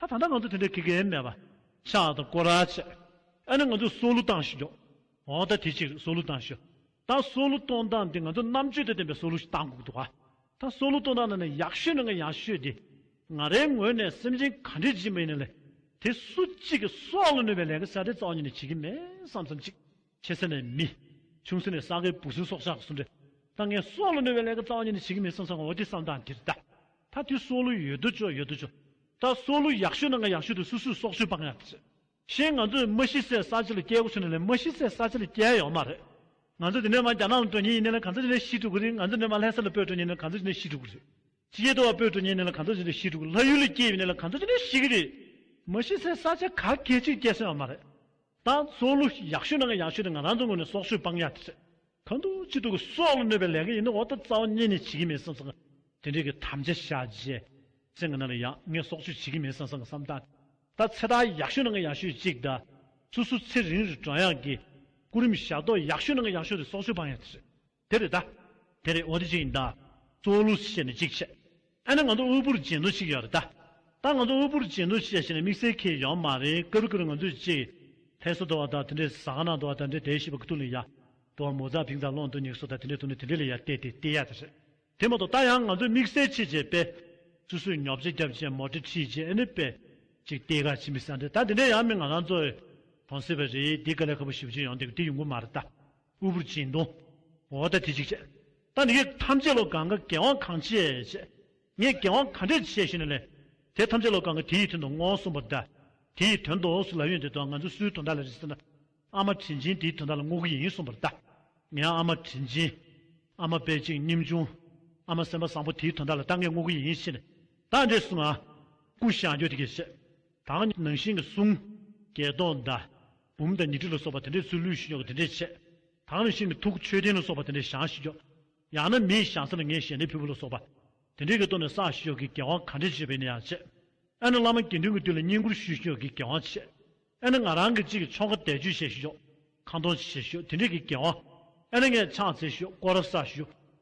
ད་ད་ལྟ་ང་ཚོ་དེ་འདྲའི་དགེ་རྒན་མེད་པ། ཤག་དང་སྐོར་ར་བྱས། ཨ་ནི་ང་ཚོས་སྲོག་བླུ་བཏང་ཞིག་ཡོང། འོ་ད་དེ་ཅིག་རེད་སྲོག་བླུ་བཏང་ཞིག། ད་སྲོག་བླུ་གཏོང་སྟངས་འདི་ང་ཚོ་རྣམ་དཔྱོད་དང་ལྡན་པའི་སྲོག་བླུ་ཞིག་བཏང་དགོས་ཀྱི་འདུག་ཨ། ད་སྲོག་བླུ་གཏོང་སྟངས་འདི་ནི་ཡག་ཤོས་ནི་འང་ཡག་ཤོས་དེ། ང་རའི་ངོས་ནས་སེམས་ཅན་ག་འདྲའི་སྦྱིན་པ་ཡིན་ན་ལེ། དེ་སུ་གཅིག་གིས་སྲོག་བླུ་ནུས་པའི་ལས་ཀ་གསར་རེ་རྩ་བ་ཉིད་ནས་བྱེད་ཀྱི་མེད་བསམ་བསམ་ཅིག། ཆེ་ས་ནས་མི། ཆུང་ས་ནས་ས་གའི་བུ་སུ་སོགས་ཤ་ཟུ་འདྲེ། རྟ་ངན་སོགས་ལ་གནོད་པའི་ལས་ཀྱི་རྩ་བ་ཉིད་ནི་བྱེད་ཀྱི་མེད་སང་སང་འོ་དེ་སང་ད་འདིར་ད། ད་དུས་སྲོག་ལུས་ཡོད་དུ་བྱོ་ཡོད་དུ་བྱོ། ད་སྲོག་ལུས་ཡག་ཤོས་ན་ང་ཡག་ཤོས་དུ་སུ་སུས་སྲོག་ཤོས་སྤང་ཡག་དུ་བྱེད། ཞེས་ང་ཚོས་རྨ་ཤི་སའི་ས་ཆ་ལ་སྐྱེལ་སྒོ་བྱེད་ན་ལས་རྨ་ཤི་སའི་ས་ཆ་ལ་སྐྱེལ་ཡོག་མ་རེད། ང་ཚོ་འདི་ནས་མ་རྒྱ་ནག་ལ་འགྲོ་ཉེན་ཡིན་ན་ལས་གང་ཚ་འདི་ནས་ཤི་འགྲོ་གི་རེད་ང་ཚོ་འདི་ནས་མ་ལྷས་ས་ལ་སྤོས་འགྲོ་ཉེན་ན་གང་ཚ་འདི་ནས་ཤི་འགྲོ་གི་རེད། ཅི་ཡེ་དུ་བ་པོས་དུ་ཉེ་གནས་ལ་གང་འཚོ་བྱེད་དུ་ཤི་དྲུག་ལྷ་ཡུལ་ལས་སྐྱེས་པའི་གནས་ལ་གང་འཚོ་བྱེད་དུ་ཤི་གི་རེད། མི་ཤི་སའི་ས་ཆ་ག་གེ་ཅིག་སྐྱེ་སོན་ཡང་མ་རེད། ད་སྲོག་བླུ་ཡག་ཤོས་ནང་གི་ཡག་ཤོས་དེ་ང་རང་ཚོ་ངོས་ནས་སྲོག་ཤོད་སྤང་ཡག་དེ་རེད། གང་འདུག་སྤྱི་འཐུས་ཀྱི་སྲོག་ལ་གནོད་པའི་ལས་ཀ་ཡིན་ན་འོག་ཏུ་རྩ་བ་ཉེ་ནས་བྱེད་ཀྱི་མེད་སང་སང་གི། དེ་འདྲས་ཀྱི་དམ་བཅའ་བཞག་རྗེས། ཚེ་ང་ན་ལ་ཡག་ངས་སྲོག་གཅོད་བྱེད་ཀྱི་མེད་སང་སང་གི་བསམ་སྟངས་དེ། ད་ཚེ་ད་ཡག་ཤོས་ནང་གི་ཡག་ཤོས་ཅིག་གདའ། སུ་སུ་ཚེ་རིང་རི་བྲང་ཡག་གི། སྐུ་རིམ་ཞག་ཏོག་ཡག་ཤོས་ནང་གི་ཡག་ཤོས་དེ་སྲོག་ཤོད་སྤང་ཡག་དེ་རེད། དེ་རེད་ད། དེ་རེད་འོ་དེ་གཅིག་ཡིན་ད། གཙོ་བོ་ལུགས་སུ་བཤད་ནས་གཅིག་བྱས། ཨ་ན་ང་ཚོ་དབུལ་པོར་བྱེད་འདོད་ཅིག་ཡོད་རེད་ད། ད་ང་ཚོ་དབུལ་པོར་བྱེད་འདོད་ཅིག་བྱས་ཤེས་ན་དམིགས་བསལ་ཁེ་ཡོད་མ་རེད་ཀུ་རེ་ཀུ་རེ་ང་ཚོས་ཅིག། ལྷས་སུ་འདོར་བ་ད་དེ་འདྲས་ཟ་ཁང་ནང་འདོར་བ་ད་འདྲས་དེའི་ཤི་བ་གི་ཐུག་ལེ་ཡ། འདོར་བ་མོ་རྫ་བིང་རྫ་ལོང་དུ་ཉེག་སོ་ད་དེ་འདྲས་ཐུག་ནས་དེ་འདྲས་ལེ་ཡ་བལྟས་དེ་བལྟས་ཡ་དེ་རེད། དེ་མ་གཏོགས་ད་ཡང་ང་ཚོས་དམིགས་བསལ་ཆེད་བྱས་པས། སུ་སུས་ཉོག་བྱས་རྒྱབ་བྱས་མོ་ཏྲི་ཁྲིད་བྱས་ཨེ་ནུས་པས། ཅིག་བལྟས་ག་ཅིག་མི་ཟ་འདྲས་ད་དེ་འདྲས་ཡ་མི་ང་རང་ཚོས། གང་སྲིད་པ་རེད་དེ་ག་ལེ་ཁ་པོ་ཞིབ་ཅིག་ཡོང་དེ་གི་དེ་ཡོང་གི་མ་རེད་ད། དབུལ་པོར་བྱིན་གདུང། འོ་ད་དེ་ཅིག་བྱས། ད་ནི་ཡོད་ཐམས་ཅད་ལོ་གང་གི་དགེ་བ་གང་བྱས་བྱས། ངས་དགེ་བ་ག་འདྲས་བྱས་ཞེས་ན་ལས། དེ་ཐམས་ཅད་ལོ་གང་གི་དེ་ཡི་དོན་དུ་བསྔོ་གསུངས་པ་འདྲ། དེ་ཡི་དོན་དུ་སུ་ལ་ཡོད་འདི་དག་ང་ཚོས་སུའི་དོན་དག་ལ་རེ་ཟེར་ན། ཨ་མ་དྲིན་ཆེན་དེའི་དོན་དག་ལ་བསྔོ་གི་ཡིན་གསུངས་པར་གདའ། ངས་ཨ་མ་དྲིན་ཆེན། ཨ་མ་དཔལ་གཅིག་སྙེམས་ཆུང། ཨ་མ་སེམས་པ་བཟང་པོ་དེའི་དོན་དག་ལ་ད་ངས་བསྔོ་གི་ཡིན་ཞེས་ནས། ད་འདྲས་གསུང་ང། སྐུ་ཞང་ཁྱོད་དེ་སྐད་བཤད། ད་ནང་བཞིན་གྱི་གསུང། སྐད་གདོང་འདའ། བུམ་དང་ཉི་ཁྲི་ལ་སོགས་པ་དེ་འདྲའི་ཚུལ་ལུས་ཤིང་ཉོག་གི་དེ་འདྲས་བྱས། དང་ནི་ཤིང་གི་ཐུག་མཆོད་རྟེན་ལ་སོགས་པ་དེ་འདྲས་བྱང་ཞིང་ཉོག། ཡང་ན་མིའི་བྱང་ས་ལ་ངའི་ཞལ་ནས་ཕུལ་བུ་ལ་སོགས་པ། དེ་འདྲས་ཀྱིས་བསྟོད་ནས་བསགས་ཤིང་ཉོག་གི་དགེ་བ་གང་འདྲས་བྱས་པས་ནི་ཡང་བྱས། ཨེ་ན་བླ་མ་དགེ་འདུན་གྱི་དུས་ལ་བསྙེན་བཀུར་ཞུས་ཤིང་ཉོག་གི་དགེ་བའང་བྱས། ཨེ་ན་ང་རང་གི་གཅིག་གི་ཆོ་ག་བཟླས་བརྗོད་བྱས་ཤིང་ཉོག། ཁང་སྟོང་བྱས་ཤིང་ཉོག་དེ་འདྲས་ཀྱི་དགེ་བའང། ཨེ་ན་ངས་ཕྱག་འཚལ་ཞིང་བསྐོར་བ་བསགས་ཤིང་ཉོག།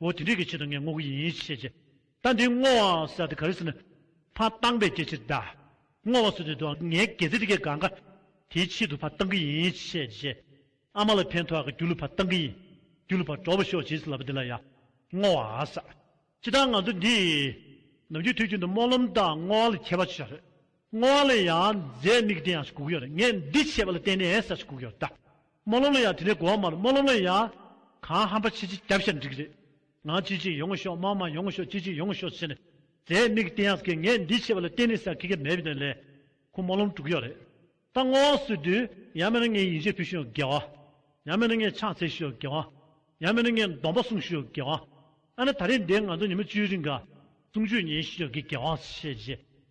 འོ་དེ་འདྲས་ཀྱི་ཆེད་དུ་ངས་བསྔོ་གི་ཡིན་ཞེས་བྱས། ད་འདི་བསྔོ་བ་ཟེར་ཏེ་ག་རེ་ཟེར་ན། ཕ་བཏང་བས་སྐྱེ་འཆིར་གདའ། བསྔོ་བ་ཟེར་དུས་དུ་ངའི་དགེ་རྩེ་འདི་གས་དགའ་དགའ། དེའི་ཆེད་དུ་ཕ་བཏང་གི་ཡིན་ཞེས་བྱས། ཨ་མ་ལ་ཕན་ཐོགས་ཀྱི་རྒྱུ་ལུས་ཕ་བཏང་གི་ཡིན། རྒྱུ་ལུས་ཕ་གྲོགས་པོ་ཤོག་བྱས་ཟིན་ལབ་པ་འདི་ལ་ཡ། བསྔོ་བ་ཨ་ཟ། ཅི་ལྟར་ང་ཚོ་འདི། ནམ་རྒྱུན་དུས་རྒྱུན་དུ་སྨོན་ལམ་དང་བསྔོ་བ་ལ་མཁས་པ་བྱེད་ཤག་རེད། སྔོ་བ་ལ་ཡང་རྫས་མིག་ལྡན་ཡང་ཞེས་གུག་ཡོད་རེད་ངས་འདི་བྱས་པ་ལ་བརྟེན་ནས་ས་ཞེས་གུག་ཡོད་རེད། རྨོ་ལོམ་ལ་ཡང་དེ་ནས་གོ་བ་མ་རེད་རྨོ་ལོམ་ལ་ཡང། གང་ཧམ་པ་ཆེ་ཆེ་རྒྱབ་ཤར་འགྲིག་རེད། ང་ཅི་བྱེད་ཡོང་ཤོག་མང་མང་ཡོང་ཤོག་ཅི་བྱེད་ཡོང་ཤོག་བྱས་ནས། རྫས་མིག་ལྡན་ཡང་ཟེར་གི་ངས་འདི་བྱས་པ་ལ་བརྟེན་ནས་ཟེར་གི་གི་མེད་པའི་དོན་ལས། ཁོ་རྨོ་ལོམ་དཀྲུག་ཡོད་རེད། ད་སྔོ་བ་བཟོས་དུས་ཡང་མེད་ན་ངས་ཡིན་ཆད་ཕུལ་ཤོག་དགེ་བ། ཡང་མེད་ན་ངས་ཕྱག་འཚལ་ཤོག་དགེ་བ། ཡང་མེད་ན་ངས་སྡོམ་པ་གསུངས་ཤོག་དགེ་བ། ཨ་ན་ད་རེས་འདི་ང་ཚོ་ཉིན་མོ་བཅུའི་རིང་གསུང་ཆོས་ཉན་ཤོག་གི་དགེ་བ་ཞེས་བཤད་རྗེས།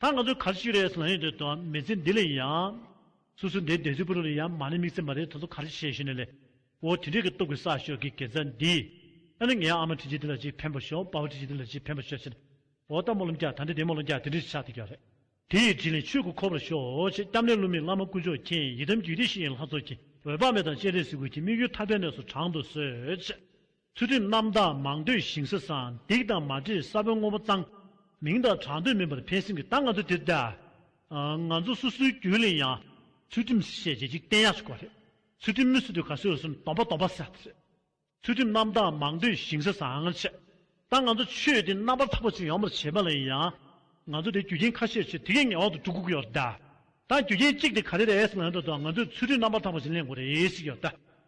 ད་ང་ཚོས་ག་རེ་ཞིག་རེད་ཟེར་ན་ཡོད་དོ་ཨ་མི་ཚེ་འདི་ལས་ཡང། སུ་སུ་འདའི་འདས་ཚོད་པུར་ལ་ཡང་མ་ནི་མིག་ཚེ་མ་རེད་ད་གཟོད་ག་རེ་ཞིག་བྱས་ཤེས་ནས་ལེ། འོ་དེ་འདྲས་ཀྱི་སྟོབས་ཀྱི་ས་ཞོག་གི་གེ་མཛའ་འདི། ཨ་ནི་ངའི་ཨ་མ་ཁྲི་ཆེ་འདི་ལ་ཅིག་ཕན་པ་ཞོག་དཔའ་བོ་ཁྲི་ཆེ་འདི་ལ་ཅིག་ཕན་པ་ཞོག་ཅེ་ན། འོ་ད་མོ་ལོ་མཁྱག་ད་འདྲས་དེ་མོ་ལོ་མཁྱག་དེ་འདྲས་ཞེས་ཆགས་ཏེ་རྒྱག་རེད། དེ་ཡི་དྲིན་ལས་ཆོས་སྐུ་འཁོར་བར་ཤོག་ཅེས་སྐྱབས་གནས་བསླུ་མེད་བླ་མ་དཀོན་མཆོག་མཁྱེན་ཡིད་དམ་རྒྱུད་སྡེ་བཞི་ཡན་ལྷ་ཚོགས་ཀྱིས་འོད་དཔག་མེད་དང་སྤྱན་རས་གཟིགས་སྐུ་གྱི་དམིགས་ཡུལ་ཐར་པའི་གནས་སུ་དྲངས་དུ་གསོལ། ཚུལ་ཁྲིམས་རྣམ་དག་མང་འདོད་ཞིང་སྲིད་གསང་སྡིག་དང་མ་འདྲེས་ས་བོན་དངོས་པོ་གཙང། མིང་དང་གྲགས་འདོད་མིན་པར་ཕན་སེམས་ཀྱི་རྟགས་ང་ཚོ་དེར་བལྟ། ང་ཚོ་སོ་སོའི་རྒྱུད་ལས་ཡང། ཚུལ་ཁྲིམས་ཞེས་བྱས་འཇིག་རྟེན་ཡག་ཤོས་ཀ་རེད། ཚུལ་ཁྲིམས་མི་སྲིད་དུས་ག་སོས་འོས་སམ་སྡོམ་པ་སྡོམ་པ་ཟེར་དེ་རེད། ཚུལ་ཁྲིམས་རྣམ་དག་མང་འདོད་ཞིང་སྲིད་གསང་ཆེ། ད་ང་ཚོ་ཆོས་འདི་རྣམ་པར་དག་པ་ཅིག་ཡོང་བར་བྱེད་པ་ལ་ཡང། ང་ཚོ་དེའི་རྒྱུ་རྐྱེན་ཁ་ཤས་ཆེ་དེ་གས་ངེས་དབང་དུ་འགྲོ་དགོས་ཀྱི་ཡོད་རེད། ད་རྒྱུ་རྐྱེན་གཅིག་དེ་ག་རེ་རེད་ཟེར་ན་ཡོད་དོ་ད་ང་ཚོས་ཚུལ་ཁྲིམས་རྣམ་པར་དག་པ་ཞིག་ལེན་དགོས་རེད་ཟེར་གྱི་ཡོད།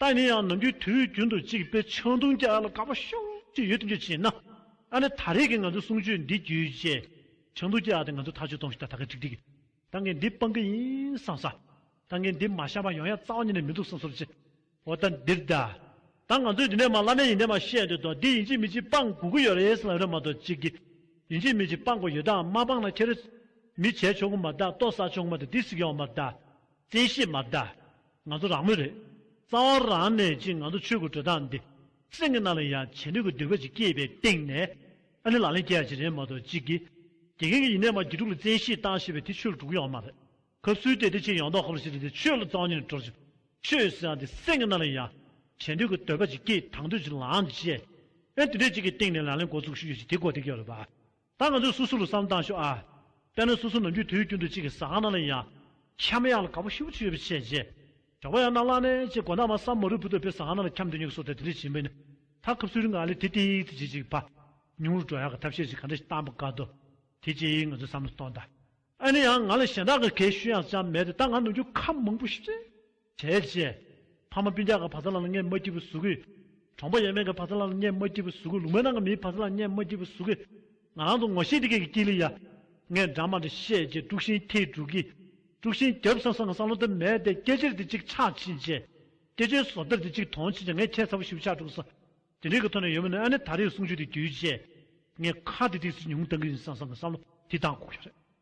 ད་ནི་ཡང་ནམ་རྒྱུན་དུས་རྒྱུན་དུ་གཅིག་དཔེ་ཆུང་དུང་སྐྱ་ལ་དགའ་པོ་ཤོར་གྱི་ཡོད་དམ་ཅི་བྱས་ན། ད་ནི་ད་རེས་ཀྱི་ང་ཚོའི་གསུང་ཆོས་འདི་བརྒྱུད་རྗེས། ཆུང་དུང་སྐྱ་དེ་ང་ཚོས་ཐག་གཅོད་གཏོང་ཤེས་ད་ད་གེ་ཀྲིག་ཀྲིག། ད་ངས་འདི་སྤང་གི་ཡིན་བསམ་ས། ད་ངས་འདི་མ་བཤམས་པ་ཡང་ཡང་རྩ་བ་ཉིད་ནས་མི་འདུག་བསམ་སོབ་ཅི། འོ་ད་འདིར་གདའ། ད་ང་ཚོས་འདི་ནས་མ་བླ་མའི་ཡིན་དེ་མ་བཤད་འདོད་དོ་འདི་ཡིན་གཅིག་མིན་གཅིག་སྤང་དགོས་ཀྱི་ཡོད་རེད་བསམ་རེད་མ་གཏོགས་གཅིག་གི། ཡིན་གཅིག་མིན་གཅིག་སྤང་དགོས་ཡོད་དམ་མ་སྤང་ན་ཁྱེད་རེ། མི་བྱས་ཆོག་གི་མ་གདའ་ལྟོ་ཟ་ཆོག་གི་མ་གདའ་འདི་ཟིག་ཡང་མ་གདའ། བཙན་ཤེད་མ་གདའ། ང་ཚོ་རང་མོས་རེད། རྩ་བ་རང་ནས་ཀྱིས་ང་ཚོ་ཆོས་ཀྱི་འགྲོས་དག་འདི། སེམས་ཀྱི་ནང་ལ་ཡང་བྱེད་འདོད་ཀྱི་འདོད་པ་ཅིག་སྐྱེས་པའི་སྟེང་ནས། ཨ་ནི་ལག་ལེན་སྐྱེལ་ཡག་ཅིག་རེད་མ་གཏོགས་ཅིག་གིས། དགེ་རྒན་གྱི་ཡིན་ནའི་མ་དགེ་ཕྲུག་ལ་བཙན་ཤེད་བཏང་ཞེས་པའི་དེ་ཆོས་ལ་གྲུག་གི་ཡང་མ་རེད། གབ་སུལ་དེ་དེ་ཆེས་ཡང་དག་ཧ་པོ་ཞིག་རེད་དེ་ཆོས་ལ་གཙང་སྙིང་ནས་དྲོ་ཅིག། ཆོས་ཟེར་ཡང་དེ་སེམས་ཀྱི་ནང་ལ་ཡང། བྱེད་འདོད་ཀྱི་འདོད་པ་ཅིག་སྐྱེས་དང་འདོད་ཅིག་ལངས། ཅེས། ཨ་ནི་དེ་འདྲས་ཅིག་གི་སྟེང་ནས་ལག་ལེན་འགོ་བཙུགས་ཤིག་ཡོད་ཅིག་དེ་གོ་ཐེབས་ཀྱི་ཡོད་རེད་པ། ད་ང་ཚོས་སུ་སུ་ལ་བསམ་བཏང་ཤོག་ཨ། དཔེར་ན་སུ་སུ་ནམ་རྒྱུན་དུས་རྒྱུན་དུ་གཅིག་གི་ཟ་ཁང་ནང་ལ་ཡིན་ཡང། ཁྱམས་གཡང་ལ་ག་བུ་ཤི་བོ་གཅིག་ཡོད་པའི་ཆེད་རྗེས། གྲོགས་པོ་ཡང་ན་བླ་མས་ཅེས་དགོ་ནག་མ་སམ་མོ་རུས་བུ་དོད་པའི་ཟ་ཁང་ནང་ལ་ཁྱམས་འདི་ཉོ་གི་སོ་ཐལ་དེ་འདྲ་བྱིན་པས་ནི། ད་སྐབས་སུ་རི་ང་ལས་དེ་ཏིག་ཏིག་བྱེད་ཅིག་བ། ཉུང་རུ་འགྲོ་ཡག་གི་ཐབས་ཤེས་ཅིག་ག་འདྲ་ཞིག་གཏང་པ་དཀའ་དོ། དེ་ཅིག་ང་ཚོས་བསམ་བློ་གཏོང་ད། ཨ་ནི་ཡང་ང་ལ་གཞན་དག་གི་གས་ཤུལ་ཡང་ཅང་མེད་དེ་ད་ང་ནུ་རྒྱུ་ཁ་མང་པོ་ཤི་ཚེ། བྲལ་བྱས། ཕ་མ་སྤུན་ཆགས་ཀྱི་བག་ཚ་ལ་ལ་ངས་མ་བྲིས་པའི་གཟུགས་ཀྱིས། གྲོང་པ་ཡས་མས་ཀྱི་བག་ཚ་ལ་ལ་ངས་མ་བྲིས་པའི་གཟུགས་ཀྱིས་ལུང་མན་ནང་གི་མིའི་བག་ཚ་ལ་ལ་ངས་མ་བྲིས་པའི་གཟུགས་ཀྱིས། ང་རང་ཚོ་ངོ་ཤེས་དེ་གས་ཀྱི་ཀྱི་ལི་ཡ། ངས་འདྲ་མ་འདྲ་བཤད་ཅེས་དཀྲུགས་ཤིང་ཐིག་དཀྲུགས་ཀྱིས། དཀྲུགས་ཤིང་རྒྱབ་སང་སང་གི་སང་ལོ་དུ་མས་དེ་སྐད་ཅེར་དེ་གཅིག་ཕྱག་ཕྱིན་བཅས། སྐད་ཅོའི་བཟོ་ལྟར་དེ་གཅིག་དོང་ཕྱིན་བཅས་ངས་ཁྱད་མཚར་བོ་ཞིག་པོ་ཕྱག་དཀྲུགས་སོ། དེ་འདྲའི་གི་ཐོག་ནས་ཡོད་མ་ནི་ཨ་ནེ་ད་རེའི་གསུང་ཆོས་དེ་བརྒྱུད་བཅས། ངས་ཁ་དེ་ཐིག་སེ་ཉུང་བཏང་གི་ཡིན་སང་སང་གི་སང་ལོ་དེ་ད་འགོག་རྒྱུ་རེད།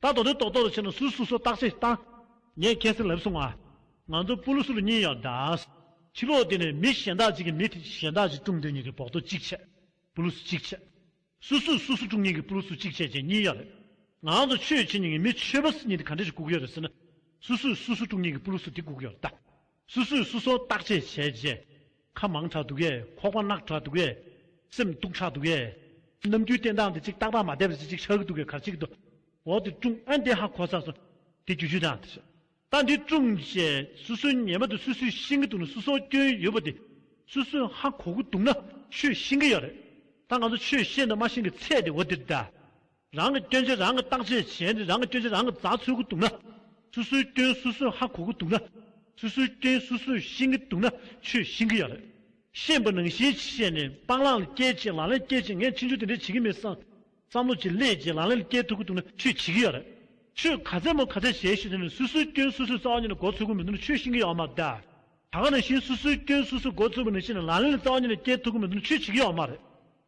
ད་དོ་དོན་རྟོག་རྟོག་ཏུ་ཕྱིན་ན་སུས་སུ་སོ་བརྟག་ཅི་བརྟག། ངས་ཁྱེད་སེམས་ལ་བསུ་ང། ང་ཚོ་སྤུ་ལུ་སུ་ལུ་གཉིས་ཡག་འདྲ། ཕྱི་ལོག་དེ་ནས་མི་གཞན་དག་ཅིག་གིས་མི་དེ་གཞན་དག་ཅིག་དཀྲུགས་འདོད་གཉིས་ཀྱི་བོགས་ཐོ་གཅིག་ཆད། སྤུ་ལུ་སུ་གཅིག་ཆད། སུ་སུས་སུ་སུ་དཀྲུགས་གཉིས་ཀྱི་སྤུ་ལུ་སུ་གཅིག་ཆད་བཅས་གཉིས་ཡག་རེད། ང་ཚོ་ཆོས་བྱེད་གཉིས་ཀྱི་མི་ཆོས་པ་སུ་གཉིས་དེ་ག་འདྲ་ཞིག་བཀུག་ཡོད་རེད་ཟེར་ན། སུ་སུས་སུ་སུ་དཀྲུགས་གཉིས་ཀྱི་སྤུ་ལུ་སུ་དེ་བཀུག་ཡོད་རེད་ད། སུ་སུས་སུ་སོ་བརྟག་དཔྱད་བྱས་རྗེས། ཁ་མང་དྲགས་འདུག་གས་ཁོག་པ་རྣག་དྲགས་འདུག་གས། སེམས་སྡུག་དྲགས་འདུག་གས། ནམ་རྒྱུན་བསྟེན་སྟངས་དེ་ཅིག་རྟག་པར་མ་བསྡད་པ་ཅིག་ཅིག་ཆགས་ཀྱི་འདུག་གས་གར་བྱེད་ཀྱི་འདུག་འོག་དེ་ཀྲུང་ཨན་བདེ་ཧ་གོ་ས་སོ། དེ་རྒྱུ་ཆོས་དང། ད་འདི་ཀྲུང་ཞེས་སུ་སུས་ཉན་པ་དེ་སུས་སུས་ཤེས་ཀྱི་འདུག་ན་སུ་སོ་སྐྱོན་ཡོད་པ་དེ་སུས་སུས་ཧ་གོ་གི་འདུག་ན་ཆོས་ཤེས་ཀྱི་ཡོད་རེད། ད་ང་ཚོ་ཆོས་ཤེས་འདུག་མ་ཤེས་ཀྱི་ཚད་དེ་འོ་དེ་རེད་ད། རང་གི་སྐྱོན་ཆ་རང་གིས་བརྟག་བྱས་བྱས་ནས་རང་གི་སྐྱོན་ཆ་རང་གིས་འཛག་ཚུལ་གྱི་འདུག་ན། སོ་སོའི་སྐྱོན་སོ་སོས་ཧ་གོ་གི་འདུག་ན། སོ་སོའི་སྐྱོན་སོ་སོས་ཤེས་ཀྱི་འདུག་ན་ཆོས་ཤེས་ཀྱི་ཡག་རེད། ཤེས་པ་ནང་བཞིན་བཤད་ནས་སྤང་བླང་ལ་སྐྱེལ་བྱེད་ལག་ལེན་སྐྱེལ་བྱེད་ངས་ཕྱི་འབྱོར་དེ་འདྲས་བྱེད་ཀྱི་མེད་བསམ། བསམ་བློ་བྱེད་ལས་བྱེད་ལག་ལེན་ལ་སྐྱེལ་ཐུབ་ཀྱི་འདུག་ན་ཆོས་བྱེད་ཀྱི་ཡག་རེད། ཆོས་ག་ཚད་མོ་ག་ཚད་བྱས་ཤེས་ཟེར་ནས་སོ་སོའི་སྐྱོན་སོ་སོས་རྩ་བ་ཉིད་ལ་འགོ་ཚུགས་ཀྱི་མི་འདུག་ན་ཆོས་ཤེས་ཀྱི་ཡག་མ་རེད། ད་ག་ནང་བཞིན་སོ་སོའི་སྐྱོན་སོ་སོས་འགོ་ཚུགས་པ་ནང་བཞིན་ལག་ལེན་ལ་རྩ་བ་ཉིད་ལ་སྐྱེལ་ཐུབ་ཀྱི་མི་འདུག་ན་ཆོས་བྱེད་ཀྱི་ཡག་མ་རེད།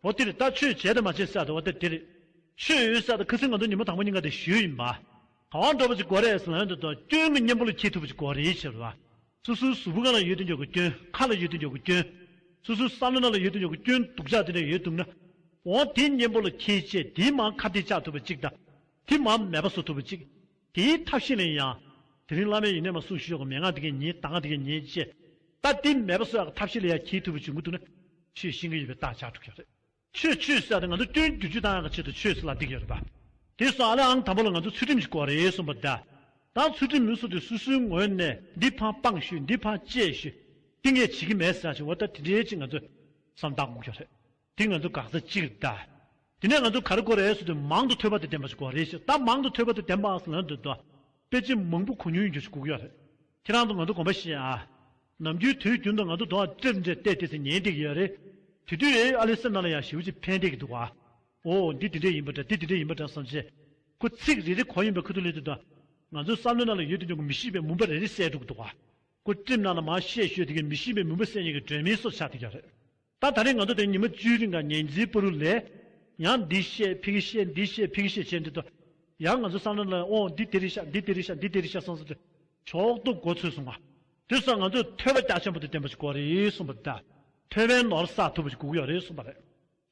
འོ་དེར་ལྟ་ཆོས་བྱས་དང་མ་བྱས་བསལ་ཏེ་འོ་དེར་དེར། ཆོས་ཡོད་བསལ་ཏེ་ཁུ་སིམ་ང་དོ་ཉིན་མོ་དང་པོ་གཉིས་ཀ་དེ་ཞུས་ཡིན་པ། གང་བ་འགྲོ་བ་ཅིག་གོ་རེ་ཟི་ལན་དུ་དོ་སྐྱོན་གྱི་གཉེན་པོ་ལ་འཁྱིལ་ཐུབ་པ་ཅིག་གོ་རེའི་ཕྱིར་རོ། སོ་སོའི་གཟུགས་བུ་གང་ལ་ཡོད་དེ་འཇོག་གི་སྐྱོན་ཁ་ལ་ཡོད་དེ་འཇོག་གི་སྐྱོན། སོ་སོའི་བསམ་བློ་ནང་ལ་ཡོད་དེ་འཇོག་གི་སྐྱོན་སྡུག་ཅག་དེ་འདྲ་ཡོད་འདུག་ན། འོ་དེའི་གཉེན་པོ་ལ་འཁྱིལ་བཅས་དེའི་མང་ཁ་དེ་བཅག་ཐུབ་པ་ཅིག་དང། དེའི་མང་མེད་པ་བཟོ་ཐུབ་པ་ཅིག། དེའི་ཐབས་ཤེས་ནས་ཡང། དེ་རིང་བླ་མས་ཡིན་ནས་མ་གསུངས་ཞུས་ཀྱང་མན་ངག་དེ་གས་ཉེས་ད་ངག་དེ་གས་ཉེས་ཅེས། ད་དེ་མེད་པ་སོགས་ཡག་གི་ཐབས་ཤེས་ལས་ཡག་གྱིས་ཐུབ་པའི་བྱུང་གི་འདུག་ན། ཆོས་ཤེས་གི་ཡོད་པའི་རྟགས་ཆགས་འགྲོ་གི་རེད། ཆོས་ཆོས་བསད་དེ་ང་ཚོ་སྐྱོན་བརྒྱུད་ཅུས་ཏང་ཡག་གི་ཆེད་དུ་ཆོས་སུ་ལ་འདེགས་ཀྱི་རེད་པ། དེ་སོགས་ཨ་ལས་ཨང་དང་པོ་ལ་ང་ཚོ་ཚུལ་ཁྲིམས་ཞིག་གོ་རེ་གསུངས་པ་ད། ད་ཚུལ་ཁྲིམས་མི་གསུངས་ཏེ་སུ་སུའི་ངོས་ནས་འདི་ཕངས་སྤངས་ཞུས་འདི་ཕངས་གཅེས་ཞུས། དེ་ངས་བྱེད་ཀྱི་མེད་ཟེར་ཡ་ཆེ་འོ་ད་དེ་འདྲའི་ཅིག་ང་ཚོས། བསམ་བཏགས་འགུག་ཀྱི་རེད། དེ་ང་ཚོ་འགག་རྩ་གཅིག་རེད་ད། དེ་ནས་ང་ཚོ་ག་རེ་གོ་རེ་ཟེར་དུས་མང་དུ་ཐོས་པ་དེ་བདེན་པ་ཞིག་གོ་རེ་ཞིག་ད་མང་དུ་ཐོས་པ་དེ་བདེན་པའང་ལན་དུ་དཔེ་ཆ་མང་པོ་གོ་མྱོང་ཡོད་རྒྱུ་ཞིག་གུག་ཡོད་རེད། ཁྱེད་རང་ཚོ་ང་ཚོ་གོམ་པ་བཤད་ཨ། ནམ་རྒྱུན་དུས་རྒྱུན་དུ་ང་ཚོ་དོག་འདྲེར་འདྲེ་བལྟས་བལྟས་ཚེ་ཉན་བསྡད་ཀྱི་ཡོད་རེད། དེ་དུས་ཨེ་ཨ་ལས་སེམས་ནང་ལ་ཡང་ཞེའུ་ཅིག་འཕེན་བསྡད་ཀྱི་འདུག་ཨ། འོ་འདི་དེ་འདྲས་ཡིན་པ་འདྲ་དེ་དེ་འདྲས་ཡིན་པ་འདྲ་བསམ་ཚེ། ཁོ་ཚིག་རེ་རེ་གང་ཡིན་པ་ཁུ་ཐུར་ལེན་དུས་ད། ང་ཚོའི་བསམ་བློའི་ནང་ལ་ཡོད་དུ་མྱོང་གི་མི་ཤེས་པའི་མུན་པ་རེ་རེ་བསལ་འགྲོ་གི་འདུག་ཨ། ཁོ་སྤྲིམ་ནང་ལ་མང་བཤད་ཤོད་དེ་གའི་མི་ཤེས་པའི་མུན་པ་བསལ་མྱོང་གི་སྒྲོན་མེའི་སོར་ཆགས་དེ་ཀྱང་རེད། ད་ད་རེས་ང་ཚོ་དེ་ཉི་མ་བཅུའི་རིང་ག་ཉན་རྗེས་པུ་རུ་ལས། ཡང་འདི་བཤད་ཕི་གི་བཤད་འདི་བཤད་ཕི་གི་བཤད་བྱས་འདི་དོ། ཡང་ང་ཚོ་སང་ལ་ལ་ཡང་ཨོང་འདི་དེ་རིང་བཤད་འདི་དེ་རིང་བཤད་འདི་དེ་རིང་བཤད་སང་སང་དེ། ཕྱོགས་དུ་འགོ་ཚུགས་སོང་བ། དེ་སང་ང་ཚོས་ཐོས་པ་སྐྱ་ཆེན་པོ་དེ་བསྟན་པ་ཞིག་གོ་རེད་གསུངས་པ་དེ། ཐོས་པའི་ནོར་བསགས་ཐུབ་པ་ཞིག་གུག་ཡོད་རེད་གསུངས་པ་རེད།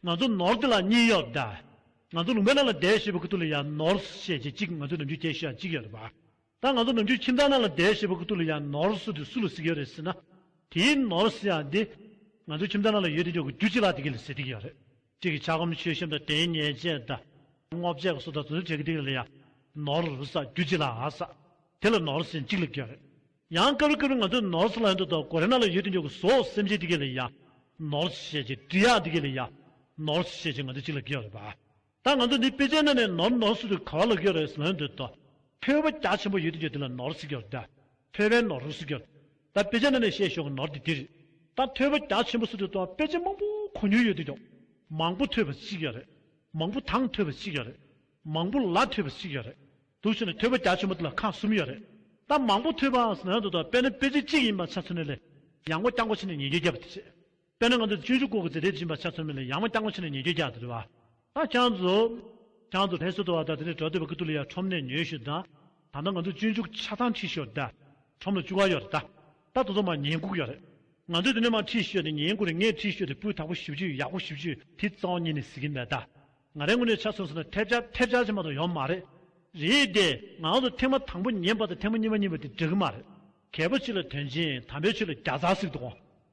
ང་ཚོ་ནོར་དེ་ལ་གཉིས་ཡོད་དེ། ང་ཚོ་ལུང་པའི་ནང་ལ་བསྡད་ཞེས་པའི་ཁུ་ཐུག་ལ་ཡང་ནོར་བཤད་བྱེད་གཅིག་ང་ཚོའི་ནང་ཆོས་རྒྱལ་ཞེས་ཡང་གཅིག་ཡོད་རེད་བ། ད་ང་ཚོ་ནུབ་ཕྱོགས་ཁྱིམ་ཚང་ནང་ལ་བསྡད་ཞེས་པ་ཁུ་ཐུག་ལ་ཡང་ནོར་སྲིད་དེ་སུ་ལ་གཟིགས་ཀྱི་ཡོད་རེད་ཟེར་ན། དེའི་ནོར་སྲིད་ཡང་དེ། ང་ཚོ་ཁྱིམ་ཚང་ནང་ལ་ཡོད་དེ་ཆོག་གི་རྒྱུ་གཅིག་ལ་དེ་གི་ལ་ཟེར་དེ་གི་ཡོད་རེད། གཅིག་གི་ཆ་སྒོམ་ཆོས་ཤེས་དང་དེའི་ཉེས་ཆད་དང། སྔོ་བྱས་གི་སོ་དང་བཟོ་བྱས་གི་དེ་གི་ལ་ཡང། ནོར་སྲིད་རྒྱུ་གཅིག་ལའང་ཟ། དེ་ལ་ནོར་སྲིད་གཅིག་ལ་གི་ཡོད་རེད། ཡང་སྐབས་རེ་སྐབས་རེ་ང་ཚོའི་ནོར་སྲིད་ལ་ཡང་དུ་དང་གོ་རེ་ནང་ལ་ཡོད་དེ་ཆོག་གི་བཟོ་སེམས་ཅན་དེ་གི་ལ་ཡང། ནོར་སྲིད་ཤེས་ཀྱི་འབྲི་གཡག་དེ་གི་ལ་ཡང། ནོར་སྲིད་ཤེས་ཀྱི་ང་ཚོ་གཅིག་ལ་གི་ཡོད་རེད་པ། ད་ང་ཚོ་འདི་དཔེ་ཆའི་ནང་ནས་ནོར་ནོར་ཟེར་དུས་ག་བ་ལ་གཡོ་རེད་ཟེར་ན་འདོད་དོ། ཕོའི་བོ་རྒྱ་ཆེན་པོ་ཡོད་དུས་ཀྱི་དེ་ལ་ནོར་ཟེར་གྱི་རེད་དཱ། ཕོའི་བན་ནོར་ཟེར་གྱི་རེད། ད་དཔེ་ཆའི་ནང་ནས་བཤད་ཞོར་གྱི་ནོར་དེ་དེ་རེད། ད་ཕོའི་བོ་རྒྱ་ཆེན་པོ་ཟེར་དུས་ད་དཔེ་ཆ་མང་པོ་གོ་མྱོང་ཡོད་དུས་ཀྱི། མང་པོ་ཐོས་པ་ཟེར་གྱི་རེད། མང་པོ་དང་ཐོས་པ་ཟེར་གྱི་རེད། མང་པོ་ལ་ཐོས་པ་ཟེར་གྱི་རེད། དུ་ཟེར་ནས་ཐོས་པ་རྒྱ་ཆེན་པོ་དེ་ལ་ཁག་གསུམ་ཡོད་རེད། ད་མང་པོ་ཐོས་པ་ཟེར་ན་འདོད་དོ་དཔེར་ན་དཔེ་ཆ་གཅིག་ཡིན་པ་ཆ་མཚོན་ན་ལས། ཡང་སྒོ་རྐྱང་སྒོ་ཕྱེ་ནས་ཉེས་འགེལ་རྒྱབ་པ་དེ་བྱེད། དཔེར་ན་ང་ཚོས་ཆུ་ཤུགས་སྐོར་གྱི་རྫས་སྦྲིད་བཞིན་པ་ཆ་ཚང་མེད་ལ་ཡང་མ་རྐྱང་ངོ་ཆེ་ན་ཉེ་རྒྱུས་རྒྱག་ཏུ་རེད་བ། ད་ཅང་ཙུ། ཅང་ཙུ་ལྷས་སུ་དོ་བ་དང་དེ་ནས་བྲོ་དོད་པ་ཀི་ཏུ་ལི་ཡ་ཁྲོམ་ནས་ཉོས་ཤོད་ད། ད་ལྟ་ང་ཚོས་ཆུ་ཤུགས་ཆ་ཚང་ཁྲིད་ཤོད་ད། ཁྲོམ་ལ་བཅུ་བ་ཡོད་རེད་ད། ད་དུ་ཚང་མ་ཉེན་འགུག་ཡོད་རེད། ང་ཚོས་དེ་ནས་མ་ཁྲིད་ཤོད་ད་ཉེན་འགུག་རེ་ལྔས་ཁྲིད་ཤོད་ད་སྤུས་དག་པོ་བཞི་བཅུ་ཡག་པོ་བཞི་བཅུ་དེ་གཙང་བོ་གཉིས་ནས་ཟི་གིན་མེད་ད། ང་རའི་ངོ་ནས་ཆ་ཚུངས་ཟེར་ན་ཐེབས་ཆ་ཐེབས་ཆ་ཆེན་པོ་དང་ཡོད་མ་རེད། རེད་དེ། ང་ཚོ་ཐེངས་མ་དང་པོ་ཉན་པ་དང་ཐེངས་མ་གཉིས་པ་གཉིས་པ་དེ་འགྲིག་གི་མ་རེད། གལ་པོ་ཆེ་ལ་དོན་ཆེན་དམ་པའི་ཆོས་ལ་བརྒྱ་རྩ་གཟིགས་འདུག་གོ།